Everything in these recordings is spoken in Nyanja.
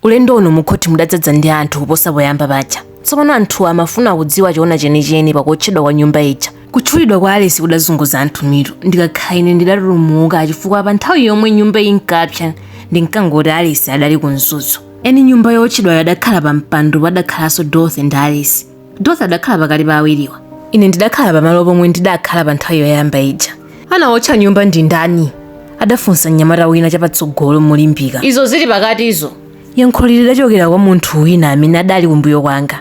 Ulendo uno mukhothi mudadzadza ndi anthu kuposa poyamba paja. Tsopano anthu amafuna kudziwa choona chenicheni pa kuotchedwa kwa nyumba ija. Kutchulidwa kwa Alice kudazunguza anthu mitu. Ndikakhala ine ndidatulumuka chifukwa pa nthawi yomwe nyumba inkapsa ndinkangoti Alice adali ku Mzuzu. Eni nyumba yootchedwayo adakhala pampando padakhalanso Dorothy ndi Alice. dorothy adakhala pakati pa awiriwa ine ndidakhala pamalo pomwe ndidakhala pa nthawi yoyamba ija anawotcha nyumba ndi ndani adafunsa mnyamata wina chapatsogolo molimbika izo zili pakatizo yankholi lidachokera kwa munthu wina amene adali kumbuyo kwanga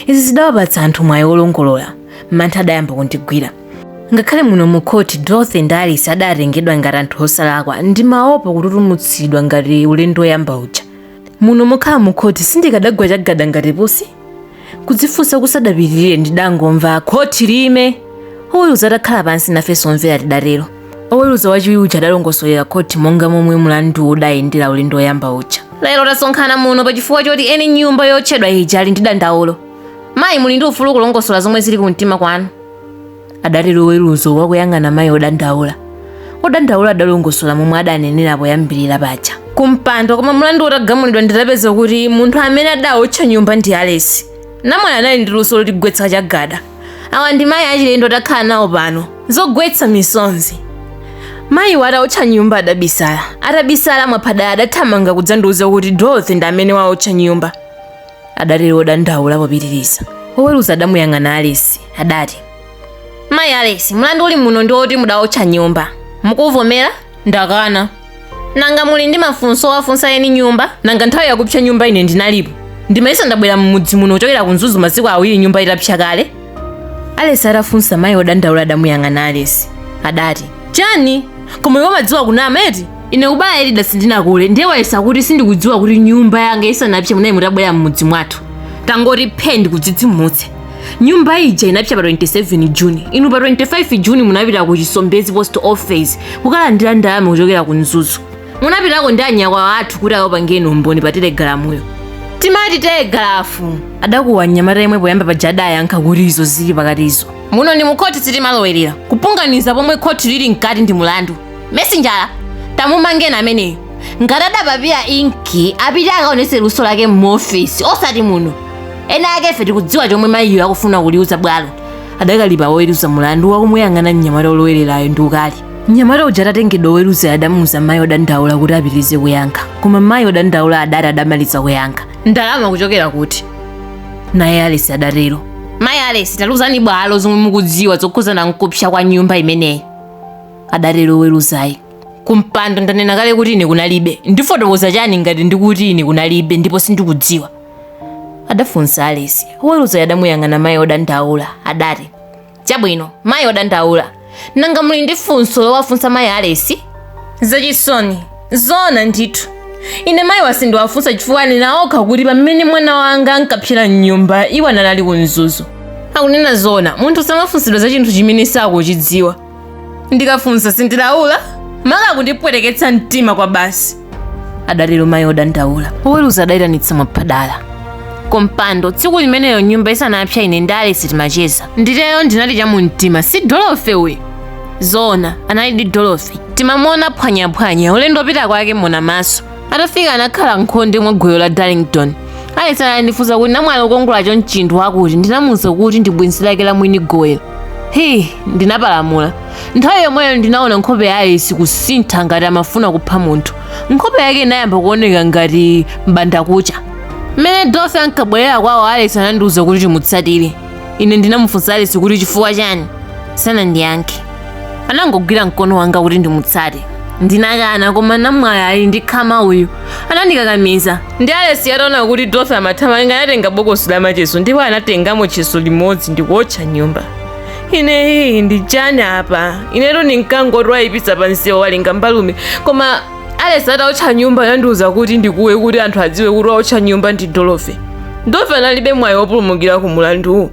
izi zidawapatsa anthu mwayi wolongolola mantha adayamba kundigwira ngakhale muno mu khoti dorothy ndi alice adatengedwa ngati anthu osalakwa ndimaopa kututumutsidwa ngati ulendo woyamba uja muno mokhala mu khoti sindikadagwa chagada ngati pusi kudzifunsa kusadapitirire ndidangomva khoti liime oweruza atakhala pansi nafenso omvera tidatero oweruza wachiwiri uja adalongosolera khoti monga momwe mlandu udayendera ulendo woyamba uja lero tasonkhana muno pa chifukwa choti eni nyumba yootchedwa ija ali ndi dandaulo mayi muli ndi ufulu kulongosola zomwe zili ku mtima kwanu adatero oweruza wakuyang'ana mayi odandaula odandaula adalongosola momwe adanenera poyambirira paja kumpando koma mlandu utagamulidwa ndidapeza kuti munthu amene adaotcha nyumba ndi alesi namwali anali ndi luso lotigwetsa chagada awa ndi mayi achilendo takhala nawo pano zogwetsa misonzi mayiwo ataotcha nyumba adabisala atabisala mwaphadala adathamanga kudzandiuza kuti dorothy ndi amene waotcha nyumba adatero wodandaula popitiriza woweruza adamuyang'ana alesi adati mayi alesi mlandu uli muno ndi woti mudawotcha nyumba mukuvomera ndakana nanga muli ndi mafunso owafunsa eni nyumba nanga nthawi yakupsa nyumba ine ndinalipo ndimayesa ndabwera m'mudzi muno kuchokera ku mzuzu masiku awiri nyumba itapsa kale alesi atafunsa mayi odandaula adamuyang'ana alesi adati chani koma iwe umadziwa kunama eti ine kubala elida sindinakule ndiye wayesa kuti sindikudziwa kuti nyumba yanga isanapse munali mutabwera m'mudzi mwathu tangoti phe ndikudzidzimutse nyumba ija inapsa pa 27 juni inu pa 25 juni munapita ku chisombezi post office kukalandira ndalama kuchokera ku mzuzu munapitako ndi anyakwawa athu kuti akakupangeni umboni pa telegalamuyo timati telegalafu adakuwa mnyamata yemwe poyamba paja adayankha kuti izo zili pakatizo muno ndi mukhoti sitimalowerera kupunganiza pomwe khoti lili mkati ndi mulandu mesinjala tamumangeni ameneyo ngati adapapira inki apite akaonese luso lake muofesi osati muno ena ake ife tikudziwa chomwe mayiyo akufuna kuliuza bwalo adakalipa woweruza mulandu wakumuyang'ana mnyamata olowererayo ndi ukali mnyamata uja atatengedwa oweruza adamuuza mayi odandaula kuti apitirize kuyankha koma mayi odandaula adati adamaliza kuyankha ndalama kuchokera kuti naye alesi adatero mayi alesi taluzani bwalo zomwe mukudziwa zokhuzana nkupsa kwa nyumba imeneyi adatero oweruzayo kumpando ndanena kale kuti ine kunalibe ndifotokoza chani ngati ndikuti ine kunalibe ndipo sindikudziwa adafunsa alesi oweruzayo adamuyang'ana mayi odandaula adati Chabwino, mayi odandaula. Nanga muli ndi funso lowafunsa mayi Alesi? Zachisoni, zoona ndithu. Ine mayiwa sindiwafunsa chifukwa anena okha kuti pamene mwana wanga ankapsera m'nyumba iwo anali ku Mzuzu. Akunena zoona, munthu samafunsidwa za chinthu chimene sakuchidziwa. Ndikafunsa sindilaula? Maka akundipweteketsa mtima kwabasi. adatero mayi odandaula oweruza adayitanitsa mwaphadala kumpando tsiku limeneyo nyumba isanapsa ine ndi alesi timacheza nditero ndinati cha mumtima si dorothy uyu zoona analidi dorothy timamuona phwanyaphwanya ulendo opita kwake mona maso atafika anakhala nkhonde mwa gowelo la darlington alesi anandifunsa kuti namwali okongolacho nchinthu chakuti ndinamuuza kuti ndi bwenzi lake la mwini gowelo hii ndinapalamula nthawi yomweyo ndinaona nkhope ya alesi kusintha ngati amafuna kupha munthu nkhope yake inayamba kuoneka ngati mbandakucha mmene dorothy ankabwerera kwawo alesi anandiwuza kuti timutsatire ine ndinamufunsa alesi kuti chifukwa chani sanandiyankhe anangogwira mkono wanga kuti ndimutsate ndinakana koma namwali ali ndi khama uyu anandikakamiza ndi alesi ataona kuti dorothy amathamanga anatenga bokosi la macheso ndipo anatengamo tcheso limodzi ndikuotcha nyumba ine hii ndi chani apa inetu ndinkangoti wayipitsa pa msewu walinga mbalume koma alesi ataotcha nyumba anandiuza kuti ndikuwe kuti anthu adziwe kuti waotcha nyumba ndi dorothy dorothy analibe mwayi wopulumukira ku mulanduwu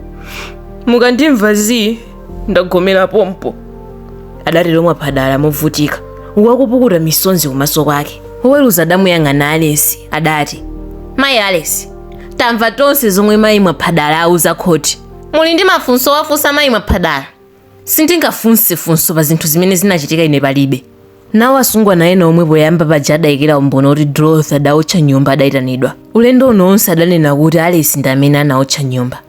mukandimva zii ndagomera pompo adatero mwaphadala movutika akupukuta misonzi kumaso kwake woweruza adamuyang'ana alesi adati mayi alesi tamva tonse zomwe mayi mwaphadala auza khoti muli ndi mafunso owafunsa mayi mwaphadala sindingafunse funso pa zinthu zimene zinachitika ine palibe nawo asungwana ena omwe poyamba paja adayikira umboni kuti dorothy adaotcha nyumba adayitanidwa ulendo uno onse adanena kuti alesi ndi amene anaotcha nyumba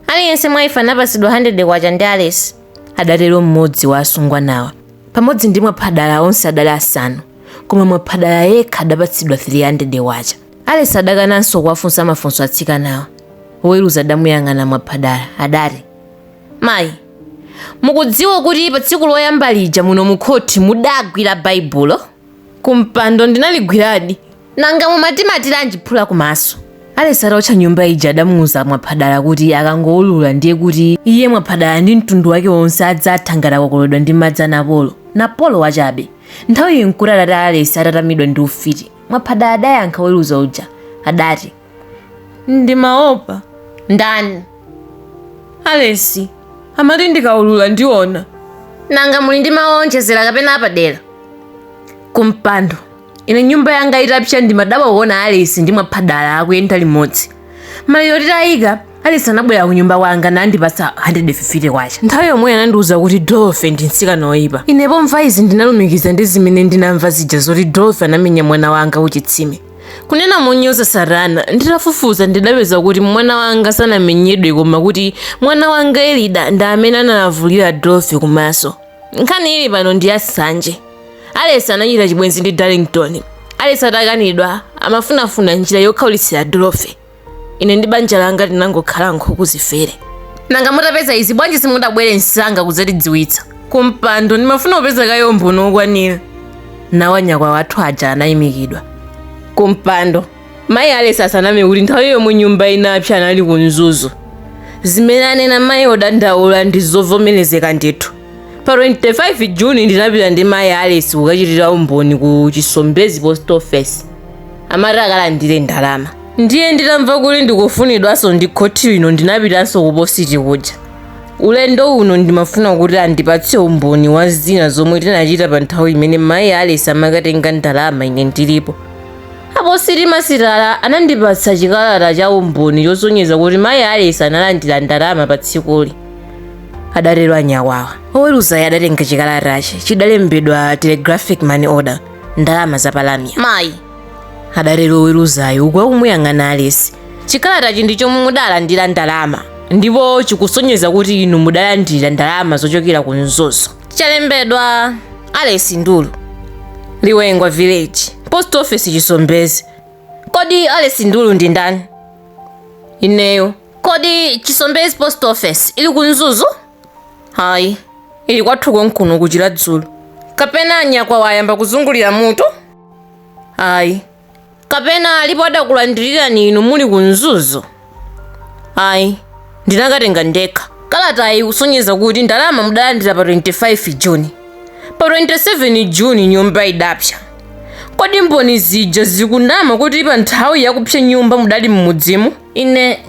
aliyense mwa ife anapatsidwa 100 kwacha ndi alesi adatero mmodzi wa asungwanawa pamodzi ndi mwaphadala onse adali asanu koma mwaphadala yekha adapatsidwa 300 kwacha Alesi adakananso kuwafunsa mafunso atsikanawa. Woweruza adamuyang'ana mwaphadala, adati, Mayi, mukudziwa kuti pa tsiku loyamba lija muno mukhoti mudagwira Baibulo? Kumpando ndinaligwiradi. Nanga mumatimatiranji phula kumaso? Alesi ataotcha nyumba ija adamuuza mwaphadala kuti akangoulula ndiye kuti iye mwaphadala ndi mtundu wake wonse adzatha ngati akokoledwa ndi madzi a Napolo. Napolo wachabe. Nthawiyi nkuti atate a Alesi atatamidwa ndi ufiti. mwaphadala adayankha oweruza uja adati ndimaopa ndani alesi amati ndikaulula ndiona nanga muli ndi mawu onjezera kapena apadera kumpando ine nyumba yanga itapsa ndimadabwa kuona alesi ndi mwaphadala akuyenda limodzi maliro titayika Alice anabwera ku nyumba kwanga nandipatsa 150 kwacha. Nthawi yomweyo anandiwuza kuti Dorothy ndi mtsikana woyipa. Ine pomva izi ndinalumikiza ndi zimene ndinamva zija zoti Dorothy anamenya mwana wanga kuchitsime. Kunena monyoza Satana, nditafufuza ndidapeza kuti mwana wanga sanamenyedwe koma kuti mwana wanga Elida ndi amene analavulira Dorothy kumaso. Nkhani ili pano ndi ya nsanje. Alice anachita chibwenzi ndi Darlington. Alice atakanidwa amafunafuna njira yokhaulitsira Dorothy. ine ndi banja langa tinangokhala nkhuku zifere nanga mutapeza izi bwanji simudabwere msanga kudzatidziwitsa kumpando ndimafuna kupeza kaye umboni wokwanira nawo anyakwawa athu aja anayimikidwa kumpando mayi alesi asaname kuti nthawi yomwe nyumba inapsa anali ku mzuzu zimene anena mayi odandaula ndi zovomerezeka ndithu pa 25 juni ndinapita ndi mayi alesi kukachitira umboni ku chisombezi post office amati akalandire ndalama ndiye nditamva kuti ndikufunidwanso ndi khoti lino ndinapitanso kupositi kuja ulendo uno ndimafuna kuti andipatse umboni wa zina zomwe tinachita pa nthawi imene mayi alesi amakatenga ndalama ine ndilipo apositimasitala anandipatsa chikalata cha umboni chosonyeza kuti mayi alesi analandira ndalama pa tsikuli adatero anyakwawa oweruzayo adatenga chikalatachi chidalembedwa telegraphic money order ndalama za pa lamya mayi adatero oweruzayo uku akumuyang'ana alesi chikalatachi ndi chomwe mudalandira ndalama ndipo chikusonyeza kuti inu mudalandira ndalama zochokera ku mzuzu chalembedwa alesi ndulu liwengwa village post office chisombezi kodi alesi ndulu ndi ndani ineyo kodi chisombezi post office ili ku mzuzu hayi ili kwathu konkuno kuchira dzulo kapena anyakwawa wayamba kuzungulira mutu ayi kapena alipo adakulandirirani inu muli ku mzuzu ayi ndinakatenga ndekha kalatayi kusonyeza kuti ndalama mudalandira pa 25 juni pa 27 juni nyumba idapsa kodi mboni zija zikunama kuti pa nthawi yakupsa nyumba mudali m'mudzimu ine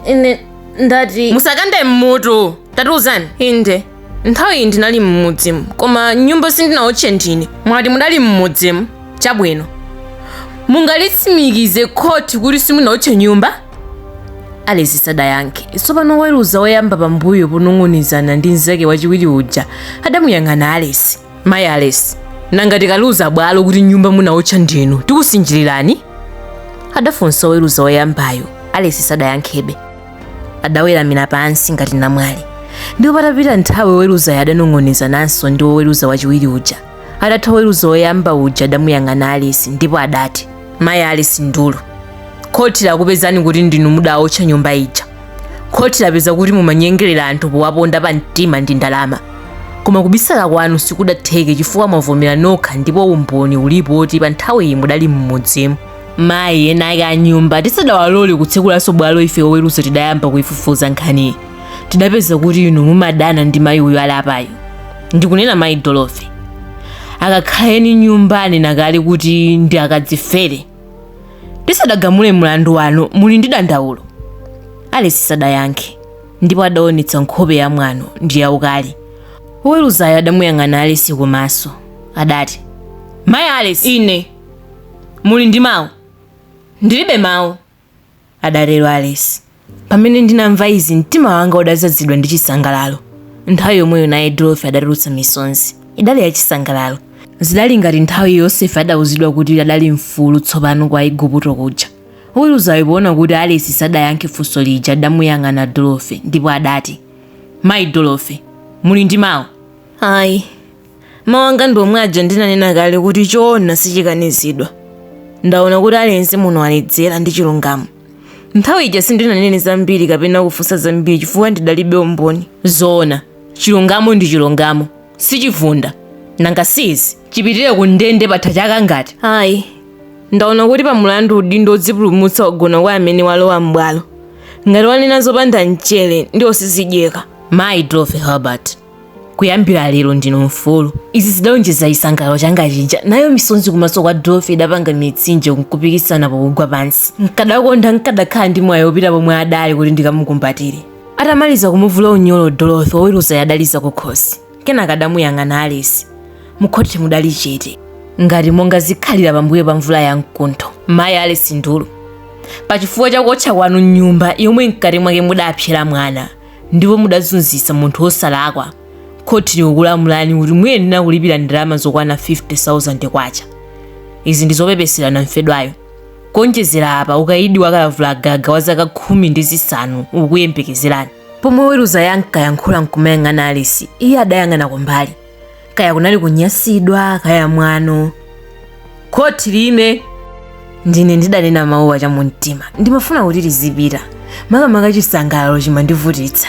ndati musakande mmutu tatiuzani inde nthawiyi ndinali mmudzimu koma nyumba sindinaotche ndine mwati mudali mmudzimu chabwino mungalitsimikize khoti kuti simunaotche nyumba alesi sadayankhe tsopano woweruza woyamba pambuyo ponong'onezana ndi mnzake wachiwiri uja adamuyang'ana alesi mayi alesi nanga tikaliuza bwalo kuti nyumba munaotcha ndinu tikusinjirirani adafunsa oweruza woyambayo alesi sadayankhebe adaweramira pansi ngati namwali ndipo patapita nthawi oweruzayo adanong'onezananso ndi oweruza wachiwiri uja atatha oweruza woyamba uja adamuyang'ana alesi ndipo adati mayi alesi ndulu khoti lakupezani kuti ndinu mudaotcha nyumba ija khoti lapeza kuti mumanyengerera anthu powaponda pa mtima ndi ndalama koma kubisala kwanu sikudatheke chifukwa mwavomera nokha ndipo umboni ulipo woti pa nthawiyi mudali m'mudzimu mayi eni ake a nyumba tisadawalole kutsekulanso bwalo ife oweruza tidayamba kuifufuza nkhaniyi tidapeza kuti inu mumadana ndi mayi uyu ali apayo ndikunena mayi dolofe akakhala eni nyumba anena kale kuti ndi akadzifere tisadagamule mlandu wanu muli ndi dandaulo alesi sadayankhe ndipo adaonetsa nkhope ya mwano ndi yaukali woweruzayo adamuyang'ana alesi kumaso adati mayi alesi ine muli ndi mawu ndilibe mawu adatero Alice. Pamene ndinamva izi mtima wanga udadzazidwa ndi chisangalalo. Nthawi yomweyo naye Dorothy adatulutsa misonzi. Idali ya chisangalalo. Zidali ngati nthawi Yosefe adauzidwa kuti adali mfulu tsopano kwa Igupto kuja. Woweruzayo poona kuti Alice sadayankhe funso lija adamuyang'ana Dorothy ndipo adati, Mayi Dorothy, muli ndi mawu? Ayi, Mawu anga ndi omwe aja ndinanena kale kuti choona sichikanizidwa. Ndaona kuti aliyense muno waledzera ndi chilungamo. Nthawi ija sindinanene zambiri kapena kufunsa zambiri chifukwa ndidalibe umboni. Zoona, chilungamo ndi chilungamo, sichivunda. Nanga si izi, chipitire ku ndende patha chaka ngati? Ayi. Ndaona kuti pa mulandu udindo wodzipulumutsa wagona kwa amene walowa m'bwalo. Ngati wanena zopanda mchere, ndiwo sizidyeka. Mayi Dorothy Herbert. kuyambira lero ndinu mfulu izi zidaonjeza chisangalalo changa chija nayo misonzi kumaso kwa dofe idapanga mitsinje nkupikisana pokugwa pansi nkadakonda nkadakhala ndi mwayi wopita pomwe adali kuti ndikamukumbatire atamaliza kumuvula unyolo dofe woweruza adaliza kukhosi kenaka adamuyang'ana alesi mukhoti mudali chete ngati monga zikhalira pambuyo pa mvula ya mkuntho mayi alesi ndulu pachifukwa cha kuotcha kwanu nyumba yomwe mkati mwake mudapsera mwana ndipo mudazunzitsa munthu wosalakwa, khoti likukulamulani kuti muyenera kulipira ndalama zokwana K50,000. Izi ndi zopepesera namfedwayo. Kuonjezera apa, ukaidi wa kalavulagaga wa zaka khumi ndi zisanu ukukuyembekezerani. Pomwe oweruzayo ankayankhula n'kumayang'ana Alesi, iye adayang'ana kumbali. kaya kunali kunyasidwa kaya mwano khoti liime ndine ndidanena mawuwa chamumtima ndimafuna kuti lizipita makamaka chisangalalo chimandivutitsa